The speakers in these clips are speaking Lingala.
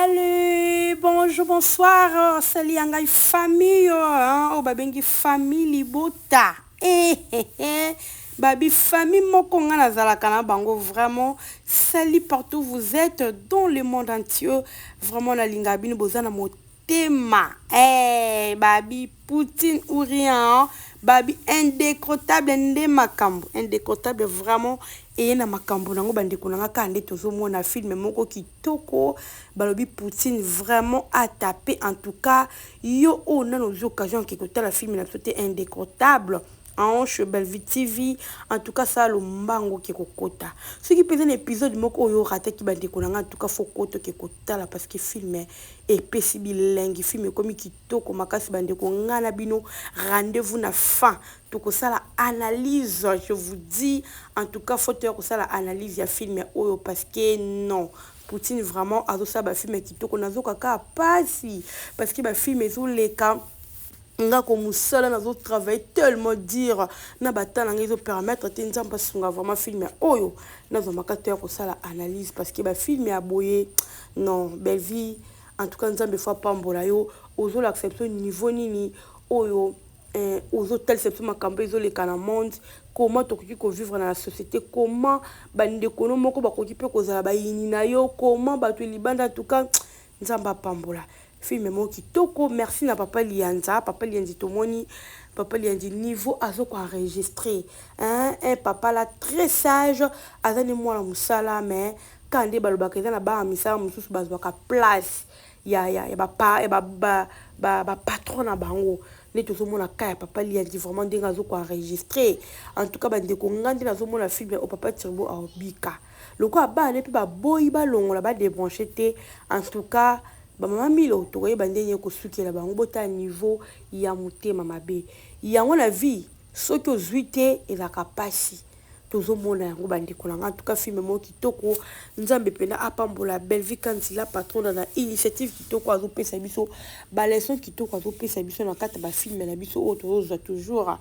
Salut, bonjour, bonsoir, euh, salut ya ngai famille hein, oyo babengi famille libota eh, eh, eh. babi famille moko ngai nazalaka na bango vraiment salut partout vous êtes dans le monde entier vraiment nalingaka bino boza na motema eh, babi poutine ou rien hein? babi indécrottable nde makambo indécrottable vraiment eye na makambo nango bandeko na ngai kaka nde tozomona filme moko ki Kitoko balobi poutine vraiment a tape en tout cas yo oyo nanu ozui occasion oke kotala film na biso te indecrottable anche belvie TV en tout cas sala lombango oke kokota soki mpenza na episode moko oyo orataki bandeko na nga en tout cas faut kota oke kotala parce que film epesi bilengi film ekomi kitoko makasi bandeko nga na bino rendez-vous na fin Tokosala analyse je vous dis en tout cas faut toya kosala analyse ya film oyo parce que non Poutine vraiment azosala ba film kitoko nazoka ka pasi parce que ba film ezoleka nga ko musala nazo travailler tellement dire na bata na nga ezo permettre te nzambe asunga vraiment film oyo nazwa makato ya kosala analyse parce que ba film ya boye non belle vie en tout cas nzambe faut apambola yo ozolakisa biso niveau nini oyo eh, ozotalisa biso makambo ezoleka na monde comment tokoki kovivre na la société comment bandeko no moko bakoki mpe kozala bayini na yo comment bato libanda en tout cas nzambe apambola filme moko kitoko merci na papa liyanza papa liyanzi tomoni papa liyanzi niveau azo koenregistre un eh, papa la très sage aza nde mwana mosala mais kaka nde balobaka eza na bana misala mosusu bazwaka place ya ya ya ba pa ya ba ba ba ba patron na bango nde tozomona ka ya papa liyanzi vraiment ndenge azo ko enregistre en tout cas bandeko nga nde nazomona film ya o papa turbo aobika lokola bana mpe baboyi balongola badebranche te en tout cas bamama milo tokoyeba nde nini kosukela bango botala niveau ya motema mabe yango na vie soki ozwi te ezalaka mpasi tozo mona yango ba ndeko na nga en tout cas film moko kitoko nzambe pena apambola Bellevue Kanzi la patrona na initiative kitoko azo pesa biso ba leçon kitoko azo pesa biso na kati ba film na biso oyo tozo zwa toujours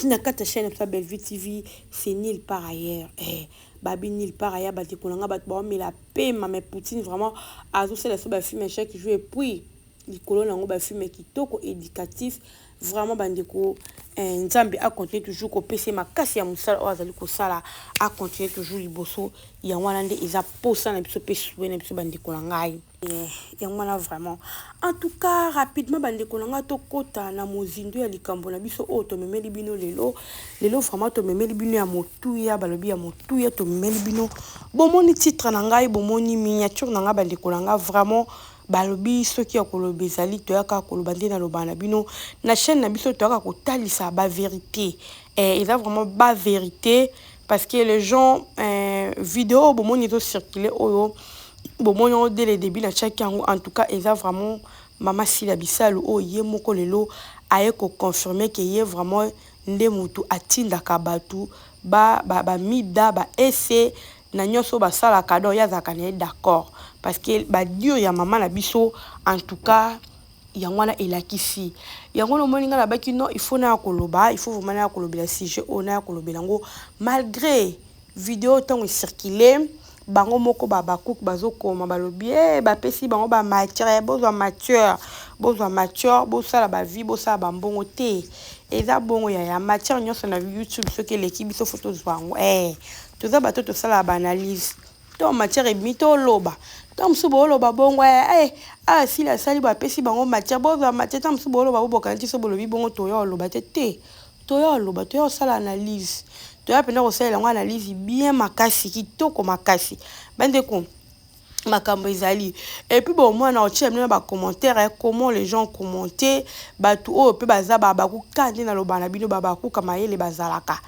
na kati chaîne na biso Bellevue TV c'est nul par ailleurs eh babi nul par ailleurs ba ndeko na nga bato ba omela pema mais Poutine vraiment azo sala biso ba film chaque jour et puis likolo na yango ba filme kitoko educatif vraiment bandeko eh, nzambe acontinue toujours kopesa ye makasi ya mosala oyo azali kosala acontinue toujours liboso yango wana nde eza mposa na biso mpe sue na biso bandeko na ngai eh, yango wana vraiment en tout cas rapidement bandeko na ngai tokɔta na mozindo ya likambo na biso oyo tomemeli bino lelo lelo vraiment tomemeli bino ya motuya balobi ya motuya tomemeli bino bomoni titre na ngai bomoni miniature na ngai bandeko na ngai vraiment Balobi soki ya koloba ezali toya kaka koloba nde na loba na bino na chaine na biso toyaka kotalisa ba verite eh, eza vraiment ba verite parce que les gens eh, video oyo bomoni ezo circule oyo bomoni yango dès le début na tiaki yango en tout cas eza vraiment mama sila bisalu oyo oh, ye moko lelo aye koconfirme ke ye vraiment nde motu atindaka bato bamida ba, ba, ba ese na nionso basalaka donc ye azalaka naye d'accord parce que ba dure ya maman na biso en tout cas yango wana elakisi yango wana omoni nga nabaki non il faut naya koloba il faut vraiment naya kolobela sujet oyo naya kolobela yango malgre video ntango ecircule bango moko ba bakuku bazokoma balobi e eh, bapesi bango ba matière bozwa matière bozwa matière bosala bavie bosala bambongo te eza bongo yaya matière nyonso na youtube soki eleki biso fo tozwa yango e eh, Toza bato oyo tosalaka ba analyse ntango matière ebimi toloba, ntango mosusu boloba bongo eh, eh awa esili asali boye apesi bango matière bozwa matière, ntango mosusu boloba bo bokanisi soki bolobi bongo toya koloba te, te toya koloba toya kosala analyse toya mpenza kosalela yango analyse bien makasi kitoko makasi bandeko. makambo ezali epuis bo mwana otyela bino na bacommentaire ya comment les gens commente bato oyo mpe baza babakuka nde naloba na bino babakuka mayele bazalaka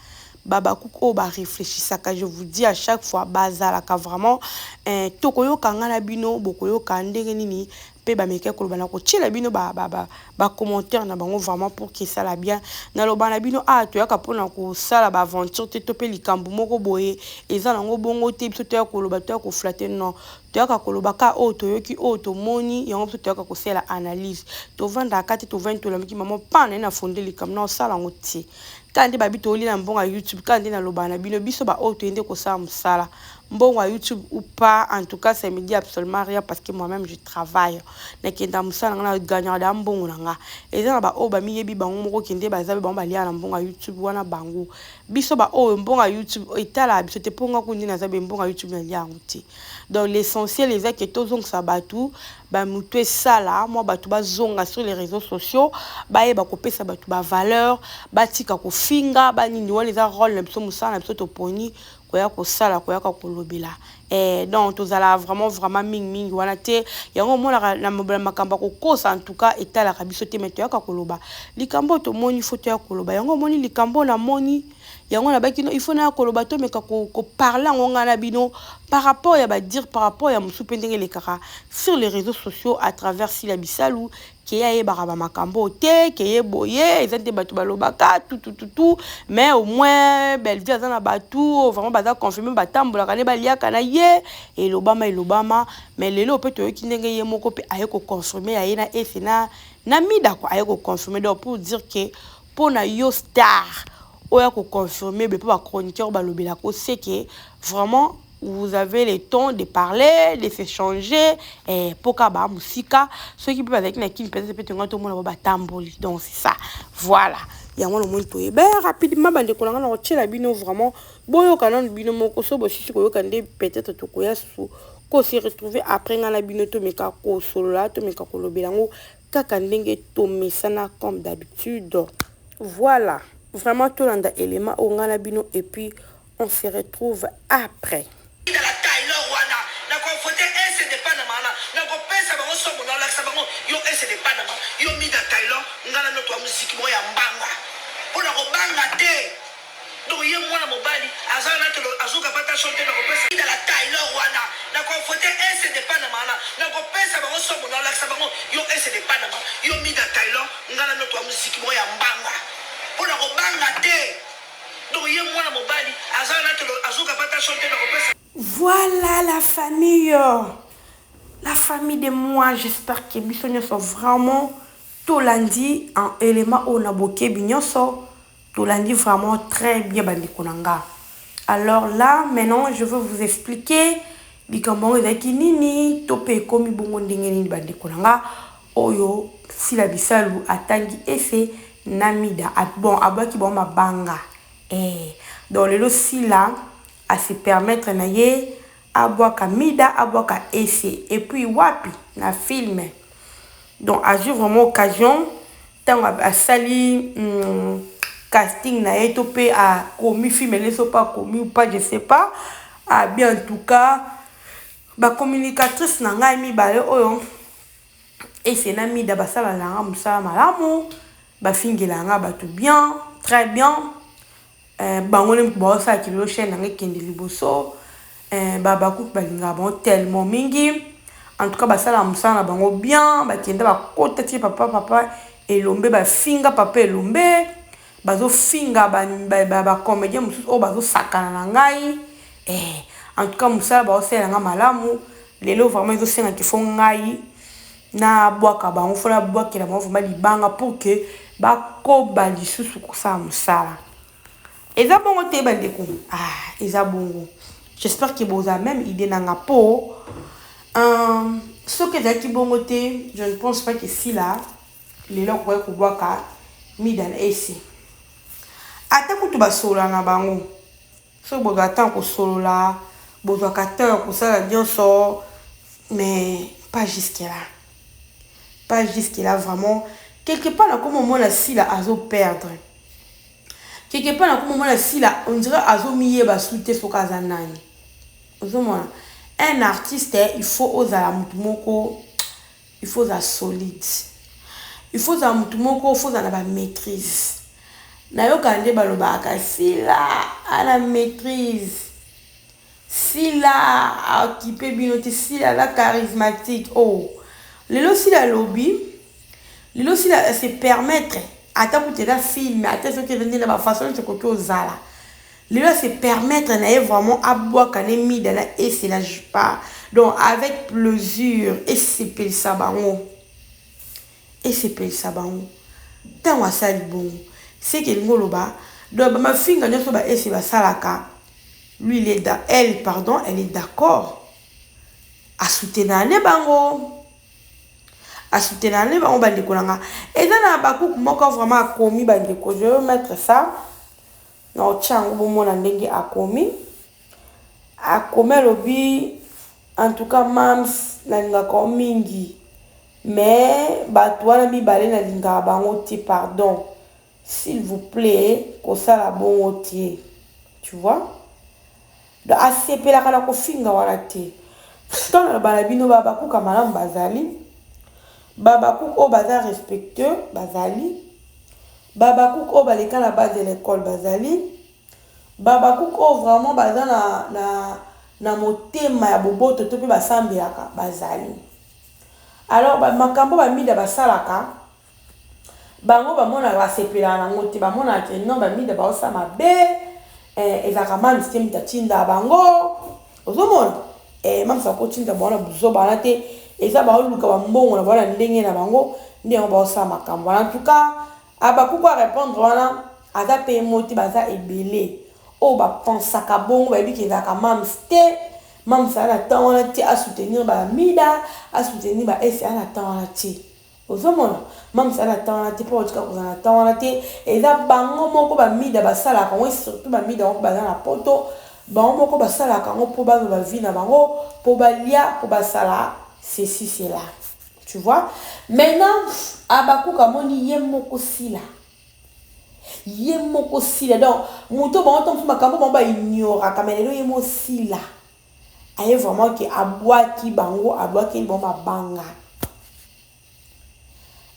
babakuka oyo bareflechisaka je vous dis à chaque fois bazalaka vraiment eh, tokoyoka ngai na bino bokoyoka ndenge nini pe ba meka koloba na kotiela bino ba ba ba ba commentaire na bango vraiment pour que esala bien na loba na bino awa toyaka pona kosala ba aventure te to pe likambu moko boye eza na yango bongo te biso toya koloba toya ko flatte non toyaka koloba ka oyo toyoki oyo tomoni yango biso toyaka kosala analyse tovanda aka te tovandi tolamiki mama pa na na fonde likambu na osala yango te kaka nde babi tooli na mbongo ya youtube kaka nde na loba na bino biso ba oyo toyende kosala mosala mbongo ya youtube ou pas en tout cas ça me dit absolument rien parce que moi même je travaille nakenda mosala nga na gagnaka da mbongo na nga eza na baoyo bamiyebi bango moko kende baza bango baliaka na mbongo ya youtube wana bango biso baoyo mbongo ya youtube etalaka biso te mpo nga kundi naza be mbongo ya youtube nalia yango te donc l'essentiel eza ke tozongisa bato bamotu esala mwa bato bazonga sur les réseaux sociaux bayeba kopesa bato bavaleur batika kofinga banini wana eza role na biso mosala na biso toponi koya kosala koyaka kolobela eh, donc tozalaka vraiment vraiment mingi mingi wana te yango omonaka na mobela makambo ya kokosa en tout cas etalaka biso te mais toyaka koloba likambo tomoni faut toya koloba yango omoni likambo namoni yango nabaki no il faut naya koloba tomeka koparle yango ngai na bino par rapport ya badire par rapport ya mosusu mpe ndenge elekaka sur les réseaux sociaux à travers sila bisalu ke ye ayebaka ba makambo oyo te ke ye boye eza nde bato balobaka tutututu mais au moins Bellevue aza na bato oyo vraiment baza confirme batambolaka nde baliaka na ye elobama elobama mais lelo oyo mpe toyoki ndenge ye moko mpe aye koconfirme ya ye na ese na na mida kua aye koconfirme donc pour dire ke mpo na yo star oyo akoconfirme be mpo bachroniqueur balobelaka oseke vraiment vous avez le temps de parler de s'echanger eh, mpo kaka baa mosika soki mpe bazalaki na kini mpenza mpe tongai tomona bo batamboli donc c'est ça voilà yango na omoni toye be rapidement bandeko na ngai na kotyela bino vraiment boyoka nano bino moko so bosisi koyoka nde peut-être tokoya susu ko se retrouver après ngai na bino tomeka kosolola tomeka kolobela yango kaka ndenge tomesana comme d'habitude voilà vraiment tolanda élément oyo ngai na bino et puis On se retrouve après. Tala Taylor wana na ko vote ese de panama wana na ko pesa bango somo na lakisa bango yo ese de panama yo mida Taylor nga na noto ya muziki moko ya mbanga po na ko banga te donc ye mwana mobali aza na tolo azo kapa ta son te na ko pesa Tala Taylor wana na ko vote ese de panama wana na ko pesa bango somo na lakisa bango yo ese de panama yo mida Taylor nga na noto ya muziki moko ya mbanga po na ko banga te Voilà la famille, la famille de moi, j'espère que biso nyoso vraiment tolandi en élément oyo na bokebi nyoso, tolandi vraiment très bien bandeko na nga. Alors là, maintenant, je veux vous expliquer likambo yango ezalaki nini, to mpe ekomi bongo ndenge nini bandeko na nga. oyo sila bisalu atangi ese na mida bon abwaki bango mabanga eeh donc lelo sila a se permettre na ye abwaka mida abwaka ese et puis wapi na film donc azui vraiment occasion tango asali casting na ye to pe akomi film na ye soki akomi ou pas je sais pas ah bien en tout cas ba communicatrice na ngai mibale oyo Ese na mida basala nanga musala malamu ba fingela nga batu bien très bien eh, bango nde bazo sala kilelo chaîne nanga ekende liboso eh, ba bakuki balingaka bango tellement mingi en tout cas basala musala na bango bien bakenda bakota tie papa papa elombe bafinga papa elombe Bazo finga ba comediens mususu oyo bazo sakana na ngai eh en tout cas musala bazo salela ngai malamu lelo vraiment ezo senga qu'il faut ngai na bwaka bango il faut na bwakela bango vraiment libanga pour que ba koba lisusu kosala musala eza bongo te ba ndeko ah eza bongo j'espère que boza même idée na nga po euh, soki ezalaki bongo te je ne pense pas que sila Lelo akoki kobwaka mida na ese ata kutu basolola na bango soki bozwa temps kosolola bozwaka temps ya kosala nyonso mais pas jusque là pas jusque là vraiment quelque part nakomi omona sila azo perdre quelque part nakomi omona sila on dirait azomiyeba su te soki aza nani ozomona un artiste il faut ozala motu moko Il faut ozala solide. Il faut ozala mutu moko, il faut ozala na ba maitrise. Nayokaka nde balobaka Sila a na maitrise, Sila a occupe bino te, Sila aza charismatique. Oh! Lelo Sila alobi, lelo Sila a se permettre ata kutu eza film, ata soki eza nde na ba façon nionso ekoki ozala. Lelo a se permettre naye vraiment abuaka ne mida na ese na jupa donc avec plesure esepelisa bango esepelisa bango tango asali bongo ce que elingi oloba donc ba mafinga nionso ba ese basalaka lui il est dans elle pardon elle est d'accord a soutenaka ne bango a soutenaka ne bango bandeko na nga eza na habakuku moko vraiment akomi bandeko je veux mettre ça Na otya yango bomona ndenge akomi akomi alobi en tout cas mam's nalingaka yo mingi mais batu wana mibale nalingaka bango te pardon s'il vous plait kosala bongo te tu vois. Donc asepelaka na kofinga wana te. Pourtant naloba na bino ba habakouk ya malamu bazali, ba habakouk oyo baza respectueux bazali, ba habakouk oyo baleka na base de l'ecole bazali, ba habakouk oyo vraiment baza na, na, na motema ya boboto to mpe basambelaka bazali. Alors ba makambo ba mida basalaka Bango ba monaka ba sepelaka na ngo te ba monaka que non ba mida bazo sala mabe eh ezalaka mam's te mutu atindaka bango ozo mona eh mam's ako tinda bango na buzoba wana te eza bazo luka ba mbongo na bango na ndenge na bango nde yango bazo sala makambo wana en tout cas abakuku a repondre wana aza pe ye moko te baza ebele oyo ba pensaka bongo bayebi ke ezalaka mam's te mam's aza na temps wana te a soutenir ba mida a soutenir ba esi aza na temps wana te. Ozo mona? Mam's aza na temps wana te po akotika kozala na temps wana te eza bango moko ba mida basalaka yango et surtout ba mida yango baza na poto bango moko basalaka yango po bazwa ba vie na bango po balia po basala ceci cela tu vois maintenant habacuc amoni ye moko sila ye moko sila donc moto bango ntango mosusu makambo bango ba ignoraka mais lelo ye moko sila Aye vraiment ke abwaki bango abwakeli bango mabanga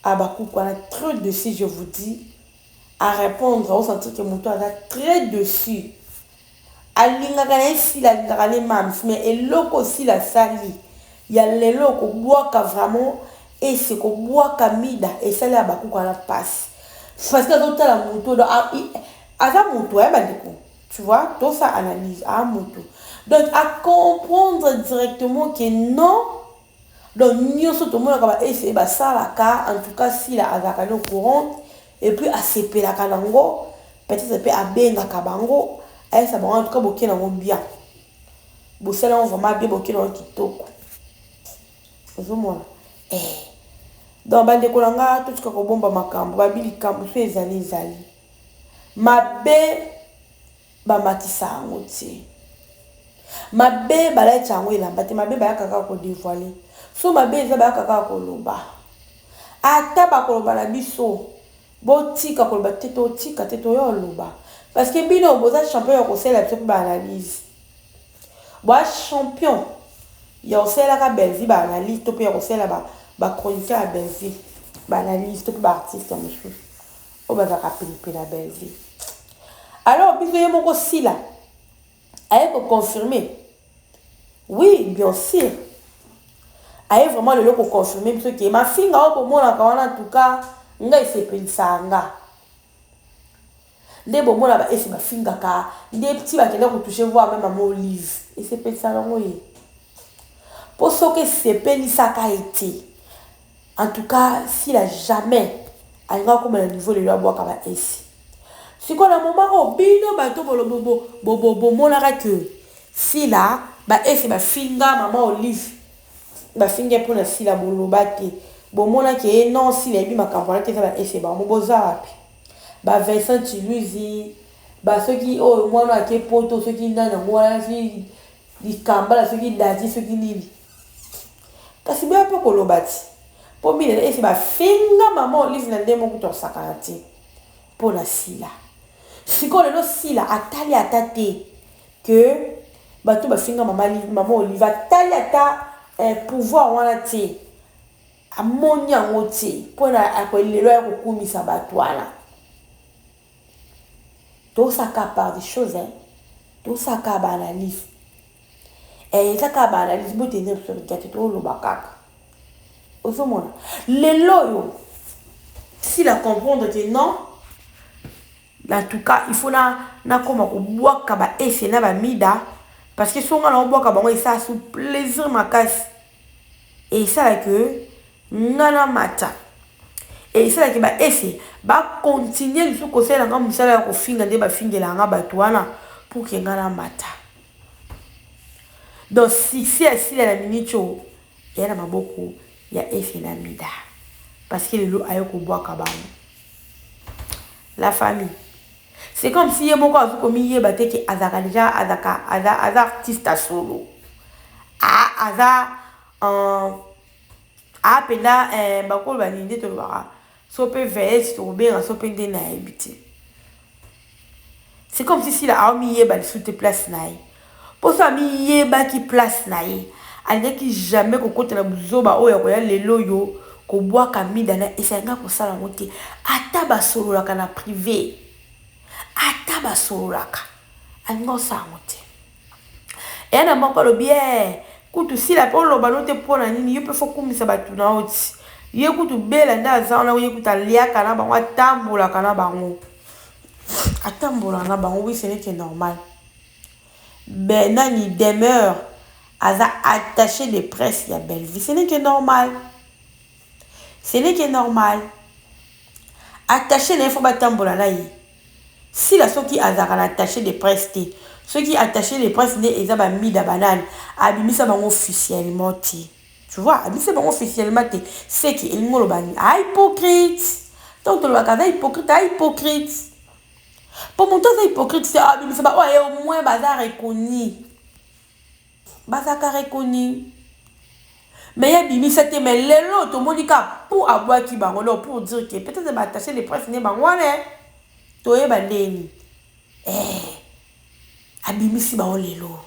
Habacuc wana très dessus je vous dis à répondre au sentir que moto aza très dessus alingaka na ye sila alingaka ne mams mais eloko sila asali ya lelo kobwaka vraiment ese kobwaka mida esali Habacuc wana mpasi parce que azotala moto aza moto ya bandeko Tu vois, tosa analyse a mutu. Donc a comprendre directement que non donc nioso tomonaka ba ese basalaka en tout cas sila azalaka ne au courant et puis asepelaka nango peut-être mpe abengaka bango ayesa bango en tout cas boke nango bien bosala yango vraiment bien boke nango kitoko ozomona eh. donc bandeko na nga totika kobomba makambo babi likambo so ezali ezali Mabe ba matisa yango te. Mabe ba lacha yango elamba te, mabe bayaka kaka ko devoiler. So mabe eza bayaka kaka koloba. Ata bakoloba na biso botika koloba te totika te toya oloba parce que bino boza champion ya kosalela biso mpe baanalyse boa champion ya kosalelaka bellevie baanalyse to mpe ya kosalela bachroniqueur ya bellevie baanalyse to mpe baartiste ya mosusu oyo bazalaka penipe na bellevue alors biso ye moko sila aye koconfirme oui bien sûr aye vraiment lelo koconfirme biso ke mafinga oyo bomonaka wana tuka ngai esepelisaka nga nde bomona baesi bafingaka nde ti bakenda kotouche voir meme mama olive esepelisaka yango ye mpo soki esepelisaka ye te En tout cas sila jamais alinga akoma na niveau lelo abwaka ba esi sikoyo na moment oyo bino bato bolobo bomonaka que sila ba esi bafinga maman olive bafinga mpo na sila boloba te bomona ke ye non sila ebi makambo wana te eza ba esi bango boza wapi ba Vincent Chiluzi ba soki oyo mwana ake poto soki nani yango wana soki likambala soki dadi soki nini Kasi boya pe koloba ti po mine na esi ba finga maman olive na ndenge moko kutu akosakana te po na sila sikoyo lelo sila atali ata te que batu ba finga maman live maman olive atali ata eh, pouvoir wana te amoni yango te po na lelo ya kokumisa batu wana tosaka par des choses hein tosaka ba analyse eh, eza kaka ba analyse bote eza biso mitya te toloba kaka ozomona lelo oyo si la comprendre te non en tout cas il faut na nakoma kobwaka ba ese na bamida parce que songa na obwaka bango esala sous plaisir makasi Et il sala que nga na mata. Et il sala que ba ese ba continuer lisusu ko salela nga musala ya ko finga nde ba fingelaka nga batu wana pour que nga na mata. Donc succès ya Sila na Minicho eya na maboko ya Ese na Mida. Parce que lelo aye ko bwaka bango. La famille C'est comme si ye moko azo ko mi yeba te ke azalaka dejà azalaka aza aza artiste ya solo. A aza en a penda eh bako ba ninde to lobaka so pe veillette to benga so pe nde na yebite. C'est comme si sila a mi yeba lisu te place na ye. Mposo amiyebaki place na ye, alingaki jamais kokotela buzoba oyo ya koya lel'oyo kobwaka mida na Esa. Alingaki kosala yango te, ata basololaka na prive, ata basololaka, alingaki kosala yango te. Eya na moko alobi, Ee, kutu Sila pe oloba n'o te mpo na nini? Yo pe fo okumisa batu na yo ti. Ye kutu Bella nde aza wana, ye kutu aliaka na bango, atambolaka na bango, atambolaka na bango, oui ce n'est que normal. Be nani demeure aza attache de presse ya Bellevue ce n'est que normal ce n'est que normal attache na ye faut batambola na ye sila soki azalaka na attache de presse te soki attache de presse nde eza ba mida banani abimisa bango officiellement te tu vois abimisa bango officiellement te seke elingi oloba nini a hypocrite donc tolobaka aza hypocrite a hypocrite Po mutu aza hypocrite te abimisa ba oyo aye au moins baza reconi bazalaka reconi mais ye abimisa te mais lelo tomoni ka pu abwaki bango donc pour dire que peut être ba attache de presse nde bango wana toyeba ndeni eh abimisi bango lelo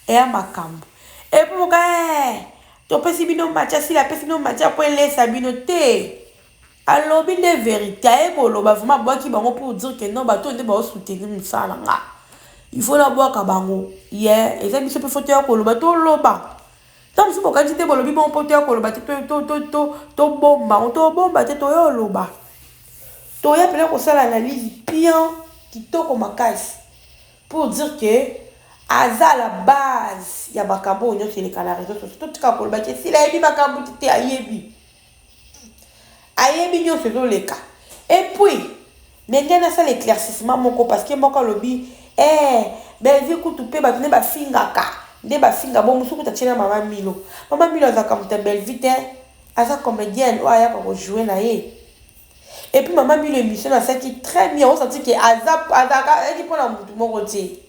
eya makambo epuis moka eh topesi bino match asila apesi bino match apo elesa bino te Alobi nde verite aye koloba vraiment abwaki bango pour dire que non bato oyo nde bao soutenir musala na nga il faut na bwaka bango ye eza biso pe faut toya koloba toloba ta mosusu bokanisi te bolobi bongo po toya koloba te tobomba ngo tobomba te toya oloba toya pena kosala analyse pian kitoko makasi pour dire que aza la base ya makambo oyo nyonso eleka na réseau sociaux totika koloba te sila ayebi makambo te te ayebi Ayebi nionso ezo leka. Et puis mais ngai nasala eclaircissement moko parce que moko alobi eh Bellevue kutu pe batu nde ba fingaka nde ba finga bo mususu kutu atie na maman Milo. Maman Milo azalaka mutu ya Bellevue te aza comedienne oyo ayaka ko jouer na ye. Et puis maman Milo emission asalaki très bien o sentir que aza azalaka ayaki pona mutu moko te.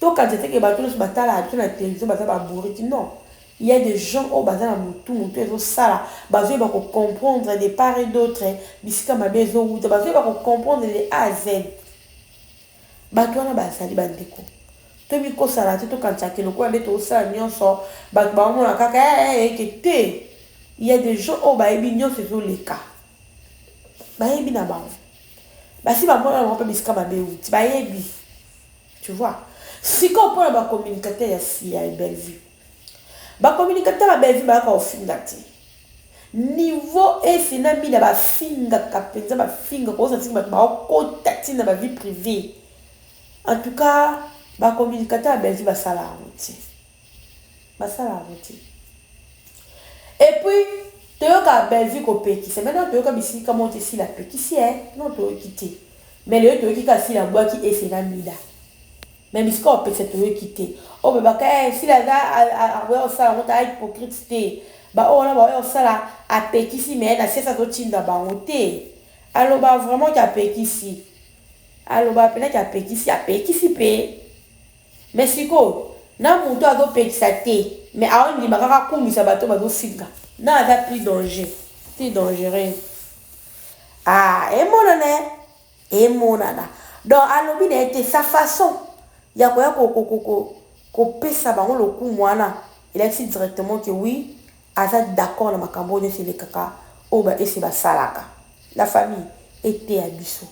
To kanisa te que batu nionso ba talaka biso na television baza ba bourrique non il ya des gens oyo baza na mutu mutu ezo sala bazo yeba ko comprendre de part et d'autre bisika mabe ezo wuta bazo yeba ko comprendre de a à z batu wana ba zali ba ndeko to mi kosala te to kanisa ke lokola nde to sala nionso batu ba mona kaka eh, eh, eh ke te il ya des gens oyo ba yebi nionso ezo leka ba yebi na bango basi ba mona bango pe bisika mabe wuti ba yebi Tu vois? Sikoyo mpo na ba communicateurs ya CIA Bellevue. Ba communicateurs ya Bellevue bayaka kofinga te. Niveau ese na mina bafingaka mpenza bafinga kokosa ntina bato baokota ntina ba vie privee. En tout cas, ba communicateurs ya Bellevue basala yango te. Basala yango te. Et puis toyoka Bellevue ko pekisa. Maintenant toyoka bisika moko te sila pekisi eh non toyoki te. Mais lelo toyoki ka sila bwaki ese na mida. Mais bisika o pekisa toyoki te. O bebaka eh sila aza akoya osala ngo ta hypocrite te. Ba oyo na ba oyo osala a pekisi mais na sesa to tinda bango te. Aloba vraiment ki a pekisi. Aloba pena ki a pekisi a pekisi pe. Mais sikoyo na mutu azo pekisa te mais azo ndima kaka akumisa batu bazo finga na aza plus danger plus dangereux ah emonana emonana donc alobi na ye te sa façon ya koya ko ko ko ko kopesa bango lokumu wana elakisi directement que oui Aza d'accord na makambo oyo nionso elekaka oyo ba ese basalaka na famille eteya biso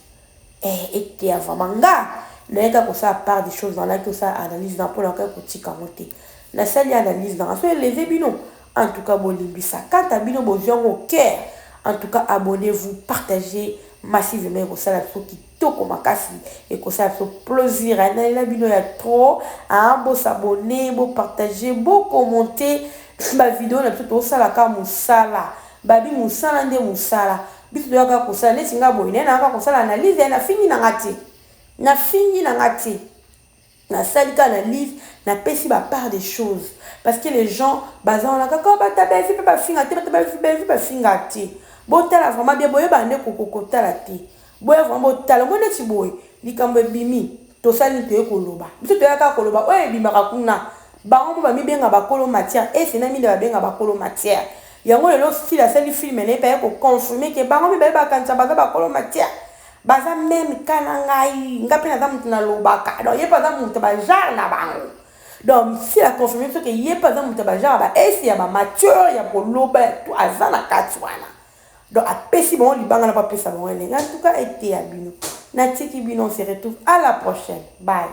eh eteya vraiment nga naye kaka kosala part de chose nalaki kosala analyse na pona kaka kotika yango te nasali analyse nanga soki eleve bino en tout cas bolimbisa quant à bino bozwi yango au cœur en tout cas abonnez vous partagez massivement ekosala biso kitoko. kitoko makasi ekosala biso plosir hein nalela bino ya trop hein bo s'abonner bo partager bo commenter ba video na biso tozosala kaka mosala babi mosala nde mosala biso toya kaka kosala neti nga boye naye nayaka kosala analyse nafingi na nga te nafingi na nga te Na sali kaka analyse, na pesi ba part des choses parce que les gens baza wana kaka oh batu ya Bellevue pe ba finga te, batu ya Bellevue, Bellevue ba finga te. Bo tala vraiment bien, boyebaka nde ko ko tala te. Boya vraiment bo tala, omoni neti boye likambu ebimi tosali nini toye koloba, biso toya kaka koloba oyo ebimaka kuna. Bango moko ba mi benga ba kolo matière, Ese na Mida ba benga ba kolo matière. Yango lelo Style asali film naye pe aye ko confirmer que bango mibale ba kanisa baza ba kolo matière. baza meme ka na ngai ngai mpe naza moto nalobaka donc ye mpe aza moto bajare na bango donc si la confirme soki ye mpe aza moto bajare ya baesi ya bamature ya koloba ya tu aza na kati wana donc apesi bango libanga na mpo apesa bango elenge en tout cas eteya bino natiki bino on se retrouve à la prochaine bye